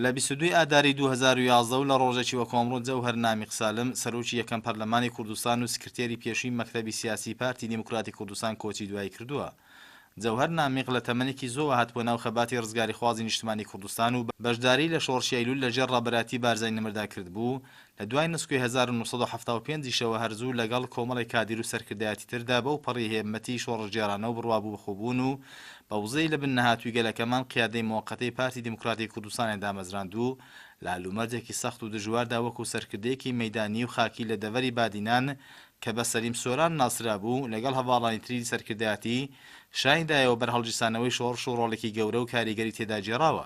لە بیست و دوو ئاداری دوو هەزار و یازدە و لە ڕۆژێکی وەکۆمڕۆ جەوهەر نامیق سالم، سەرۆکی یەکەم پەرلەمانی کوردستان و سکرتێری پێشووی مەکتەبی سیاسیی پارتی دیموکراتی کوردستان کۆچی دوایی کردووە. جەوهەر نامیق لە تەمەنێکی زۆوە هاتبووە ناو خەباتی ڕزگاریخوازی نیشتمانی کوردستان و بەشداریی لە شۆڕشی ئەیلول لەژێر ڕابەرایەتی بارزانی نەمردا کردبوو، لە دوای نسکۆی هەزار و نۆ سەد و حەفتا و پێنج یشەوە هەر زوو لەگەڵ کۆمەڵێک کادیرو سەرکردایەتی تردا بەو پەڕی هێممەتی شۆڕشگێڕانەو بڕوابوو بە خۆبوونو بە وزەی لە بن نەهاتووی گەلەکەمان قیادەی مۆقەتەی پارتی دیموکراتی کوردستانیان دامەزراندو لە لومەرجێکی سەختو دژواردا وەکو سەرکردەیەکی مەیدانیو خاکی لە دەڤەری بادینان کە بە سەلیم سۆران ناسرابوو لەگەڵ هەڤاڵانی تری سەرکردایەتی شانی دایەوە بەر هەڵگیرسانەوەی شۆڕشو ڕۆڵێکی گەورەو کاریگەری تێدا گێڕاوە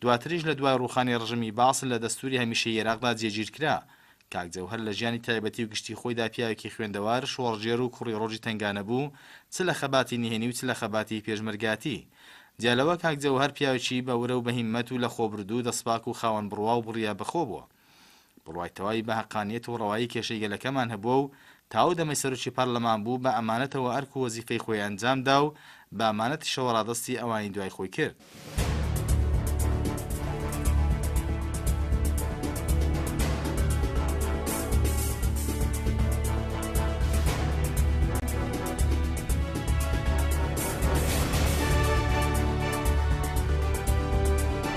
دواتریش لە دوای ڕووخانی ڕژیمی بەعس لە دەستووری هەمیشەیی ئێراقدا جێگیر کرا. کاک جەوهەر لە ژیانی تایبەتی و گشتی خۆیدا پیاوێکی خوێندەوار، شۆڕشگێر و کوڕی ڕۆژی تەنگانە بوو، چ لە خەباتی نهێنی و چ لە خەباتی پێشمەرگایەتی. جیا لەوە کاک جەوهەر پیاوێکی بە ورە و بە هیممەت و لە خۆبوردوو، دەستپاک و خاوەن بڕوا و بڕیا بە خۆ بووە. بڕوای تەواوی بە هەقانیەت و ڕەوایی کێشەی گەلەکەمان هەبووە و تا ئەو دەمەی سەرۆکی پارلەمان بوو بە ئەمانەتەوە ئەرک و وەزیفەی خۆی ئەنجام دا و بە ئەمانەتیشەوە ڕادەستی ئەوانی دوای خۆی کرد.